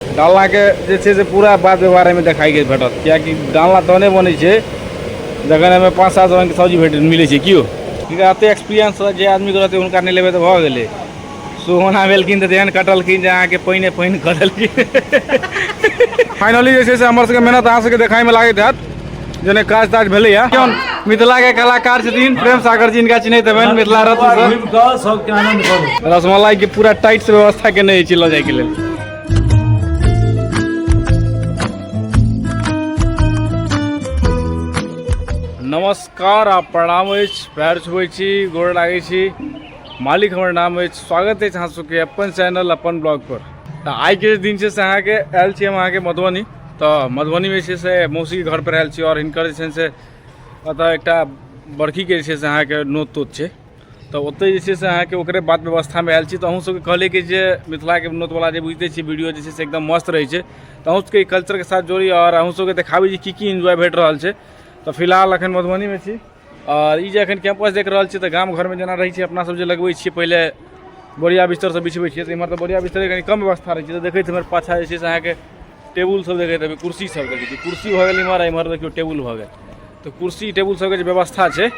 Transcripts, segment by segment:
डालनाके जे छै से पूरा बात व्यवहार एहिमे देखाइ गेल भेटत किएकि डालना तहने बनै छै जखन एहिमे पाँच सात रङ्गके सब्जी भेट मिलै छै किओ हिनका एतेक एक्सपीरियंस जे आदमीके रहतै हुनका नहि लेबै तऽ भऽ गेलै सोहना भेलखिन तऽ तेहन कटलखिन जे अहाँके पानिए पानि कटलखिन फाइनली जे छै से हमर सबके मेहनत अहाँ सबके देखाइमे लागैत हैत जेने काज ताज भेलैए केहन मिथिलाके कलाकार छथिन प्रेम सागर जी हिनका चिन्हैत हेबनि मिथिला रत्न सर घुमि कऽ सबके आनंद करू रसमलाइके पूरा टाइटसँ व्यवस्था केने अछि लऽ जाइके लेल नमस्कार आ प्रणाम अछि पैर छुबै छी गोड़ लागै छी मालिक हमर नाम अछि स्वागत अछि अहाँ सबके अपन चैनल अपन ब्लॉग पर तऽ आइके दिन छै से अहाँके आयल छी हम अहाँके मधुबनी तऽ मधुबनीमे छै से मौसीके घर पर आयल छी आओर हिनकर जे छनि से एतऽ एकटा बड़खीके जे छै से अहाँके नोत तोत छै तऽ ओतै जे छै से अहाँके ओकरे बात व्यवस्थामे आयल छी तऽ अहूँ सबके कहलियै कि जे मिथिलाके नोत बला जे बुझिते छियै वीडियो जे छै से एकदम मस्त रहै छै तऽ अहूँ सबके ई कल्चरके साथ जोड़ी आओर अहूँ सबके देखाबी जे की की इन्जॉय भेट रहल छै तऽ फिलहाल अखन मधुबनीमे छी आओर ई जे अखन कैम्पस देख रहल छियै तऽ गाम घरमे जेना रहै छै अपना सब जे लगबै छियै पहिले बोरिया बिस्तर सब बिछबै छियै तऽ इमहर तऽ बोरिया बिस्तरके कनी कम व्यवस्था रहै छै तऽ देखैत हेबै पाछा जे छै से अहाँके टेबुल सब देखैत हेबै कुर्सी सब देखै छी कुर्सी भऽ गेल इम्हर इम्हर देखियौ टेबुल भऽ गेल तऽ कुर्सी टेबुल सबके जे व्यवस्था छै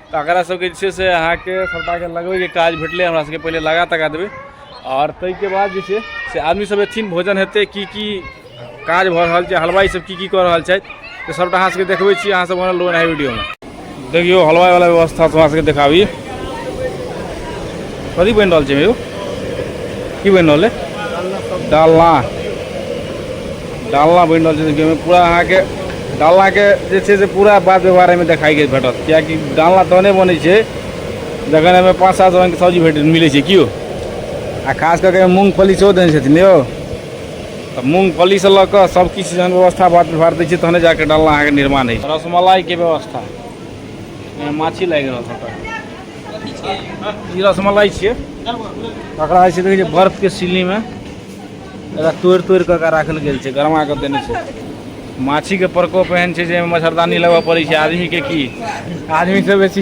तऽ एकरा सबके जे छै से अहाँके सभटाके लगबैके काज भेटलै हमरा सबके पहिले लगा तगा देबै आओर ताहिके बाद जे छै से आदमी सब एथिन भोजन हेतै की की काज भऽ रहल छै हलवाइ सब की की कऽ रहल छथि तऽ सभटा अहाँ सबके देखबै छी अहाँ सब बनल रहू एहि वीडियोमे देखियो हलवाई वाला व्यवस्था से हमरा देखाबी कथी बन रहा है यो की बन रहा है डालना डालना बन रहा है देखियो पूरा अहाँ के डालना के जे छे से पूरा बात व्यवहार में देखाई गई भेटत क्या कि डालना तहने बने छे जखन हमें पाँच सात रंग के सब्जी भेट मिले छे क्यों आ खास करके मूंगफली सेहो देने छथिन यो तऽ मूँगफलीसँ लऽ कऽ सब किछु जहन व्यवस्था बात व्यवहार दै छै तहने जाकऽ डालना अहाँके निर्माण होइ छै रसमलाइके व्यवस्था माछी लागि रहल छै ई रसमलाई छियै एकरा जे छै देखै छियै बर्फके सिलीमे एकरा तोड़ि तोड़ि कऽ एकरा राखल गेल छै गरमा कऽ देने छै माछीके प्रकोप एहन छै जे मच्छरदानी लगबऽ पड़ै छै आदमीके की आदमीसँ बेसी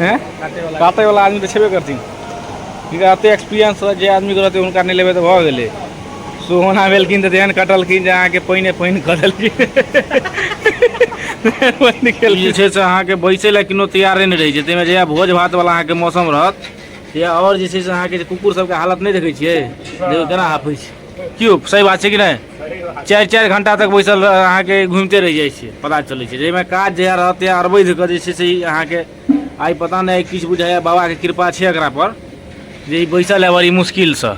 हैं काटे वाला आदमी तो छेबे करथिन हिनका एते एक्सपीरियंस जे आदमी के रहते हुनका नहीं लेबे तो भ गेले सोहना भेलखिन तऽ तेहन कटलखिन जे अहाँके पानिए पानि कऽ देलखिन पानि ई जे केलखिन छै से अहाँके बैसे लए कोनो तैयारे नहि रहै छै ताहिमे जहिया भोज भात वाला अहाँके मौसम रहत तहिया आओर जे छै से अहाँके जे कुकुर सबके हालत नहि देखै छियै देखियौ केना हाफै छै की यौ सही बात छै कि नहि चारि चारि घंटा तक बैसल अहाँके घूमते रहि जाइ छै पता चलै छै जाहिमे काज जहिया रहत या अरबैध कऽ जे छै से अहाँके आइ पता नहि किछु बुझाइए बाबाके कृपा छै एकरा पर जे ई बैसल है बड़ी मुश्किलसँ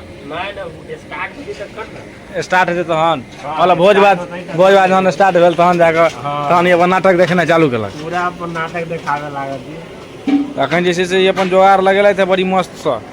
स्टार्ट हेतै तहन मतलब भोज भात भोज भात जहन स्टार्ट भेल तहन जाकऽ तहन अपन नाटक देखेनाइ चालू केलक पूरा अपन नाटक देखाबे लागल अखन जे छै से अपन जोगाड़ लगेलथि बड़ी मस्तसँ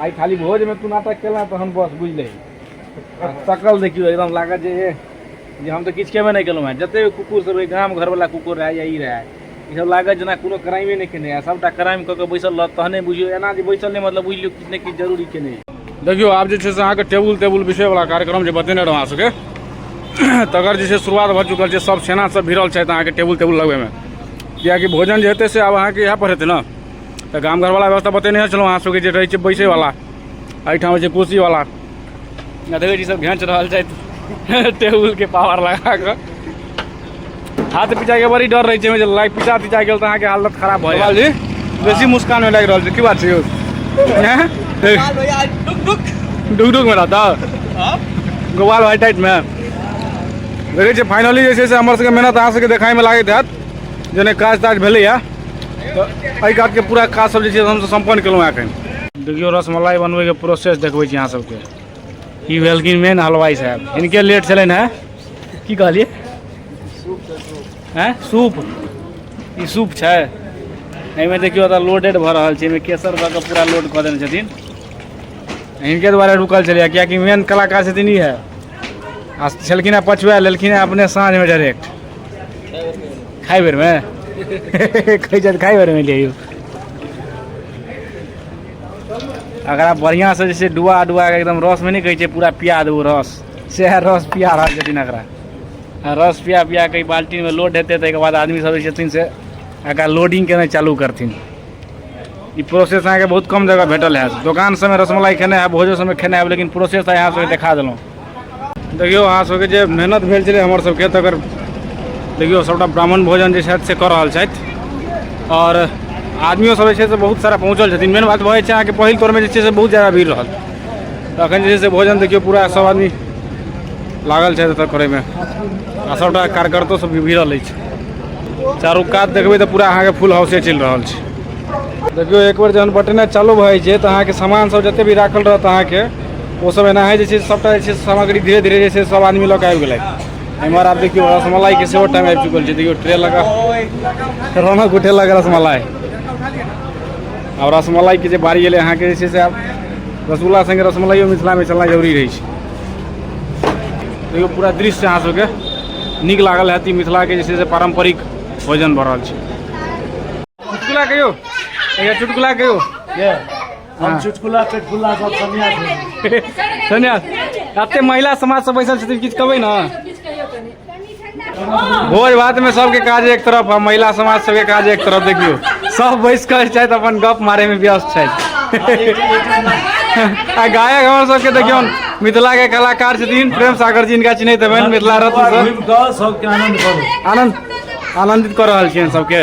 आइ खाली भोज में तू नाटक केला तहन बस बुझलही आ सकल देखियो एकदम लागत जे एह, जे हम तऽ किछु केबे नहि केलहुँ हेँ जते कुकुर सब रहै गाम घरवला कुकुर रहै या ई रहै ई सब लागत जेना कोनो क्राइमे नहि केने है सबटा क्राइम कऽ के बैसल रहत तहने बुझियौ एना जे बैसल नहि मतलब बुझि लियौ किछु ने किछु जरूरी केने है देखियौ आब जे छै से अहाँके टेबुल तेबुल बिछबैवला कार्यक्रम जे बतेने रहौं अहाँ सबके तकर जे छै शुरुआत भऽ चुकल छै सब सेना सब भिड़ल छथि अहाँके टेबुल तेबुल लगबैमे किएकि भोजन जे हेतै से आब अहाँके इएह पर हेतै ने तऽ गाम घरवला व्यवस्था बतेने छलहुँ अहाँ सबके जे रहै छै बैसैवला एहिठाम होइ छै कुर्सीवला आ देखै छी सब घेँच रहल छथि टेबुलके पावर लगा कऽ हाथ पिचाइके बड़ी डर रहै छै ओहिमे जे लाइ पिचा तिचा गेल तऽ अहाँके हालत खराब भऽ जाएत जी बेसी मुस्कान लागि रहल छै की बात छै यौ हैं? गोपाल भैया आज डुक डुक डुक डुकमे रहता हाँ? गोपाल भाई टाइटमे देखै छियै फाइनली जे छै से हमर सबके मेहनत अहाँ सबके देखाइमे लागैत हैत जे नहि काज ताज भेलैए तऽ एहि घाटके पूरा काज सब जे छै हमसब सम्पन्न केलहुँ हँ एखन देखियौ रसमलाई बनबैके प्रोसेस देखबै छी अहाँ सबके ई भेलखिन मेन हलवाई साहब हिनके लेट छलनि हँ की कहलियै हैं सूप ई सूप छै एहिमे देखियौ एतऽ लोडेड भऽ रहल छै एहिमे केसर भऽ कऽ पूरा लोड कऽ देने छथिन हिनके दुआरे रुकल छलै किएकि मेन कलाकार छथिन ई है आ छलखिन हँ पछुआ लेलखिन हँ अपने साँझमे डायरेक्ट खाइ बेरमे कहै छथि खाइ बेरमे ले यौ एकरा बढ़िआँसँ जे छै डुआ डुआ कऽ एकदम रसमे नहि कहै छै पूरा पिया देबौ रस सएह रस पिया रहल छथिन एकरा आ रस पिया पिया कऽ बाल्टीमे लोड हेतै ताहिके बाद आदमी सब जे छथिन से एकरा लोडिंग केनाइ चालू करथिन ई प्रोसेस अहाँके बहुत कम जगह भेटल हैत दोकान सबमे रसमलाई खेने हैब भोजो सबमे खेने हैब लेकिन प्रोसेस अहाँ सबके देखा देलहुँ देखियौ अहाँ सबके जे मेहनत भेल छलै हमर सबके तकर देखियौ सभटा ब्राह्मण भोजन जे छथि से कऽ रहल छथि आओर आदमियो सब जे छै से बहुत सारा पहुँचल छथिन मेन बात भऽ जाइ छै अहाँके पहिल तौरमे जे छै से बहुत जादा भीड़ रहल तऽ अखन जे छै से भोजन देखियौ पूरा सब आदमी लागल छथि एतऽ करैमे आ सभटा कार्यकर्तो सब भी भिड़ल अछि चारू कात देखबै तऽ पूरा अहाँके फुल हाउसे चलि रहल छै देखियौ एक बेर जहन बटने चालू भऽ जाइ छै तऽ अहाँके सामान सब जते भी राखल रहत अहाँके ओ सब एना है जैसे सबटा जैसे सामग्री धीरे धीरे जैसे सब आदमी लग आबि गेलै एम्हर आब देखियौ रसमलाई के सेहो टाइम आबि चुकल छै देखियौ ट्रे लगा रौनक उठे लगा रसमलाई आ रसमलाई के जे बारी एलै अहाँके जे छै से आब रसगुल्ला संगे रसमलाइयो मिथिलामे चलना जरूरी रहै छै देखियौ पूरा दृश्य अहाँ सबके नीक लागल हैत ई मिथिलाके जे छै से पारम्परिक भोजन भऽ रहल छै चुटकुला कहियौ चुटकुला कहियौ हम चुटकुला चुटकुला सब सन्यास सन्यास एते महिला समाज सब बैसल छथिन किछु कहबै ने भोज भात में सबके काज एक तरफ आ महिला समाज सबके काज एक तरफ देखियो सब बैस कर छथि अपन गप मारे में व्यस्त छथि आ गायक हमर सबके देखियो मिथिला के कलाकार छथिन प्रेम सागर जी इनका चिन्हैत हेबनि मिथिला रत्न सर घुमि कऽ सबके आनंद करू आनंद आनंदित कर रहल छियनि सबके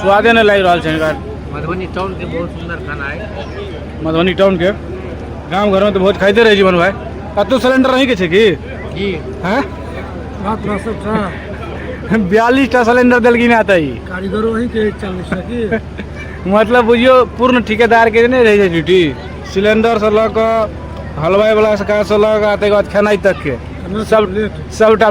स्वादे नहि लागि रहल छै हिनकर मधुबनी टाउन के बहुत सुंदर खाना है मधुबनी टाउन के गाँव घर में तो बहुत खाइते रहे जीवन भाई कतौ सिलेंडर नहीं के छै की जी हैं बात ना सब था बयालीस टा सिलेंडर देलखिन आता ई कारीगरो वही के चल सकी मतलब बुझियो पूर्ण ठेकेदार के नहीं रहे छै ड्यूटी सिलेंडर से लऽ कऽ हलवाई वाला से काज से लऽ कऽ आ ताहिके बाद खेनाइ तक के सब सबटा